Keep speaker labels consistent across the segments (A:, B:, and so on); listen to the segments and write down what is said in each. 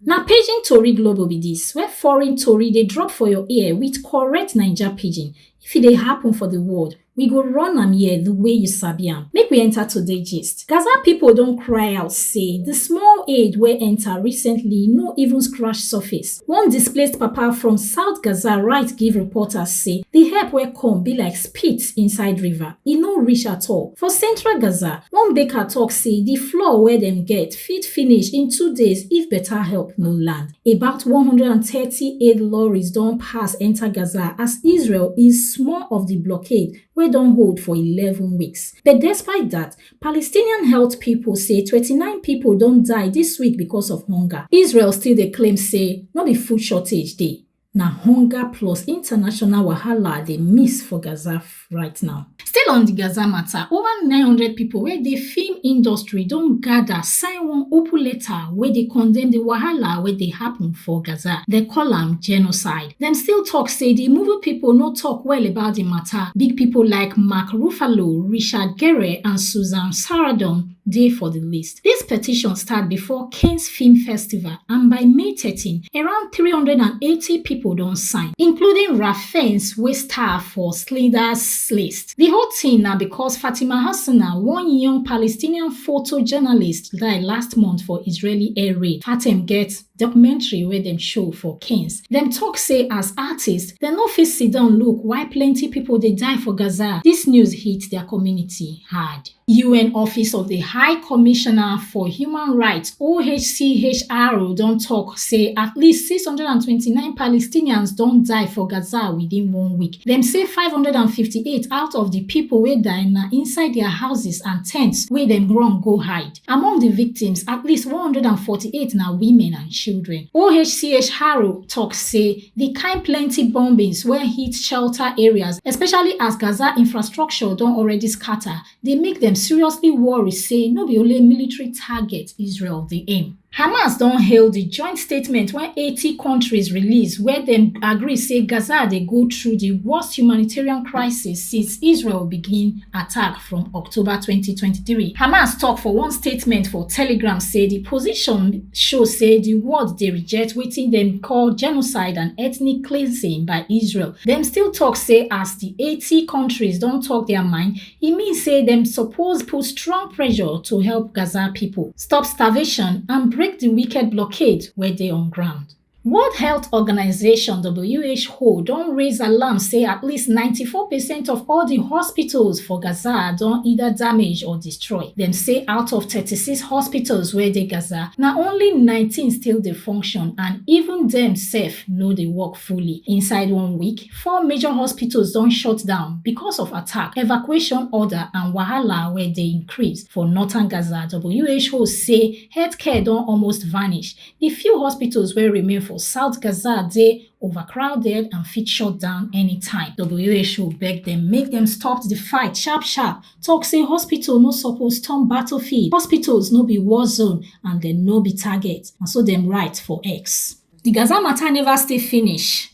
A: Na pidgin tori globo be dis where foreign tori dey drop for your ear with correct Naija pidgin. If e dey happen for the world, we go run am here the way you sabi am. Make we enter today gist. Gaza people don cry out say the small aid wey enter recently no even scratch surface. One displaced papa from South Gaza write give reporters say the help wey come be like spit inside river. E no reach at all. For central Gaza, one baker talk say the flour wey dem get fit finish in two days if better help no land. About one hundred and thirty aid lorries don pass enter Gaza as Israel ease small of di blockade wey don hold for eleven weeks. But despite dat, Palestinian health pipo say twenty nine pipo don die dis week becos of hunger. Israel still dey claim say no be food shortage dey. Na hunger plus international wahala dey miss for Gaza right now. Still on di Gaza mata, ova nine hundred pipo wey dey film industry don gada sign one open letter wey dey condemn di wahala wey dey happun for Gaza. Dem call am genocide. Dem still tok say di movie pipo no tok well about di mata. Big pipo like Mark Ruffalo, Richard Gere and Susan Sarandon dey for di list. Dis petition start before Cannes Film Festival and by May thirteen, around three hundred and eighty pipo don sign, including Ralph Fiennes wey star for Schindler's List. Di whole tin na becos Fatima Hasina, one young Palestinian photojournalist die last month for Israeli air raid. Fatem get documentary wey dem show for Cannes. Dem tok say as artists, dem no fit sit down look while plenty pipo dey die for Gaza. Dis news hit dia community hard. un office of di high commissioner for human rights ohchr don tok say at least 629 palestinians don die for gaza within one week dem say 558 out of di pipo wey die na inside dia houses and tents wey dem run go hide among di victims at least 148 na women and children ohchr tok say di kain plenty bombings wey hit shelter areas especially as gaza infrastructure don already scata dey make dem seriously worry say no be only military target israel dey aim hamas don hail di joint statement wey eighty kontris release wia dem agree say gaza dey go through di worst humanitarian crisis since israel begin attack from October 2023. Hamas tok for one statement for Telegram say di position show say di world dey reject wetin dem call genocide and ethnic cleansing by Israel. Dem still tok say as di 80 kontris don tok dia mind, e mean say dem suppose put strong pressure to help Gaza pipo stop starvation and break di wicked blockade wey dey on ground. World Health Organization (WHO) don raise alarm say at least 94 percent of all di hospitals for Gaza don either damage or destroy. Dem say out of 36 hospitals wey dey Gaza, na only 19 still dey function and even dem sef no dey work fully. Inside one week, four major hospitals don shut down because of attack, evacuation order and wahala wey dey increase. For northern Gaza, WHO say healthcare don almost vanish, Di few hospitals wey remain for South Gaza dey overcrowded and fit shut down anytime. WHO beg dem make dem stop di fight sharp sharp, tok say hospital no suppose turn battlefield, hospitals no be war zone and dem no be target, na so dem write for X. Di Gaza mata neva still finish.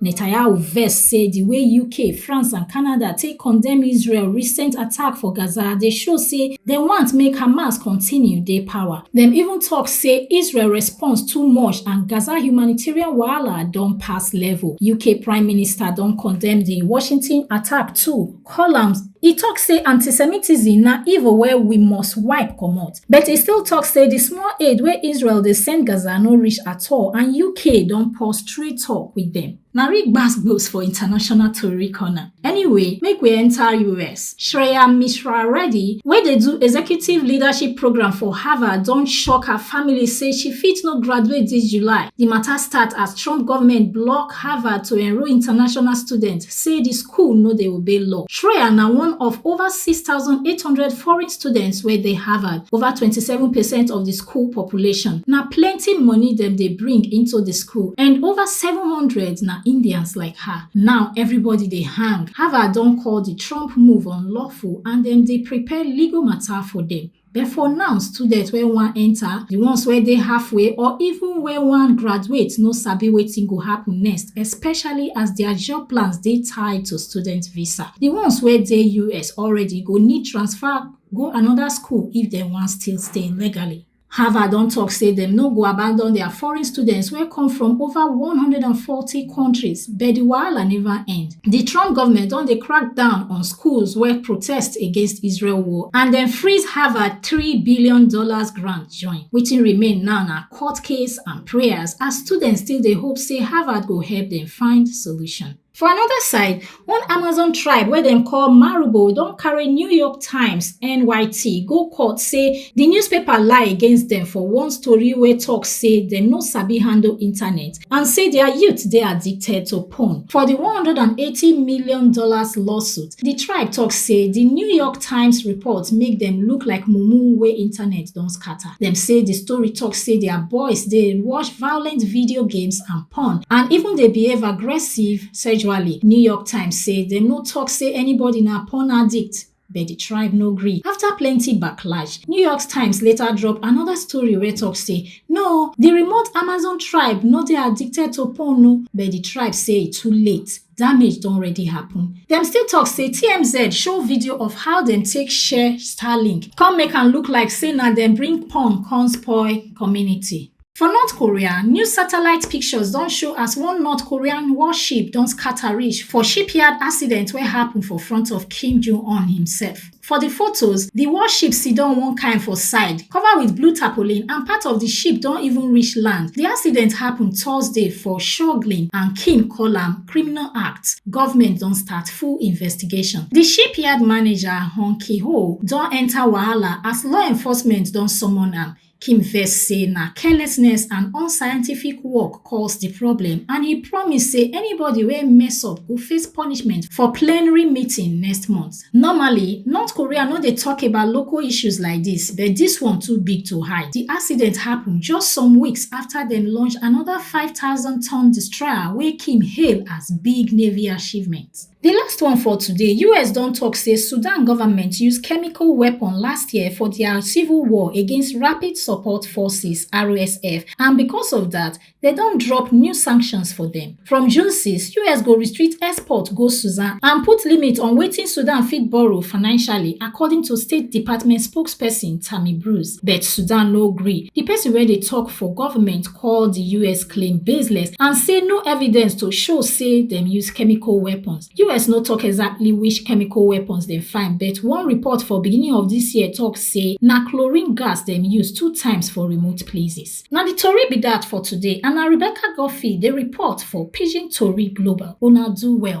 A: netanyahu vex say di way uk france and canada take condemn israel recent attack for gaza dey show say dem want make hamas continue dey power dem even tok say israel response too much and gaza humanitarian wahala don pass level uk prime minister don condemn di washington attack too columns e tok say antisemitism na evil wey we must wipe comot but e still tok say di small aid wey israel dey send gaza no reach at all and uk don pause trade tok wit dem na real gbas-gbos for international tori corner anyway make we enta us shreya mishra reddy wey dey do executive leadership programme for harvard don shock her family say she fit no graduate dis july di mata start as trump goment block Harvard to enrol international students say di school no dey obey law. Schroer na one of over six thousand eight hundred foreign students wey dey Harvard, over twenty seven percent of di school population. Na plenty money dem dey bring into di school and over seven hundred na Indians like her. Now everybody dey hang. Harvard don call di Trump move unlawful and dem dey prepare legal matter for dem. But for now, students wey wan enter, the ones wey dey halfway or even wey wan graduate no sabi wetin go happen next, especially as their job plans dey tied to student visa. The ones wey dey US already go need transfer go another school if dem wan still stay legally. Harvard don talk say dem no go abandon their foreign students wey come from over 140 countries But di wahala neva end. Di Trump govment don dey crack down on schools wey protest against Israel war and dem freeze Harvard three billion dollars grant join. Wetin remain now na court case and prayers as students still dey hope say Harvard go help dem find solution. For anoda side, one Amazon tribe wey dem call Marubo don carry New York Times, NYT, go court say di newspaper lie against dem for one story wey tok say dem no sabi handle internet and say dia youth dey addicted to porn for di one hundred and eighty million dollars lawsuit di tribe tok say di new york times report make dem look like mumu wey internet don scata dem say di story tok say dia boys dey watch violent video games and porn and even dey behave aggressive sexually new york times say dem no tok say anybody na porn addict but di tribe no gree afta plenty backlash new york times later drop anoda story wey tok say no di remote amazon tribe no dey addicted to porn o but di tribe say e too late damage don already happen dem still tok say tmz show video of how dem take share starlink come make am look like say na dem bring porn come spoil community For North Korea, new satellite pictures don show as one North Korean warship don scatter reach for shipyard accident wey happen for front of Kim Jong-un himself. For di photos, di warship siddon one kind for side, cover wit blue tarpaulin and part of di ship don even reach land. Di accident happen Thursday for Shogling and Kim call am criminal act. Government don start full investigation. Di shipyard manager, Hong Ki-ho, don enta wahala as law enforcement don summon am. Kim vex say na carelessness and unscientific work cause di problem and e promise say anybody wey mess up go face punishment for plenary meeting next month. Normally, North Korea no dey tok about local issues like dis but dis one too big to hide. Di accident happun just some weeks afta dem launch anoda five thousand ton destroyer wey Kim hail as big Navy achievement. Di last one for today, us don tok say Sudan government use chemical weapon last year for dia civil war against Rapid Support Forces, RSF, and because of dat, dem don drop new sanctions for dem. From June 6, us go restrict export go Sudan and put limit on wetin Sudan fit borrow financially, according to State Department spokesperson Tammy Bruce. But Sudan no gree. Di pesin wey dey tok for government, call di us claim baseless and say no evidence to show say dem use chemical weapons us no tok exactly which chemical weapons dem find but one report for beginning of dis year tok say na chlorine gas dem use two times for remote places na di tori be dat for today and na rebecca godfrey dey report for pidgin tori global una do well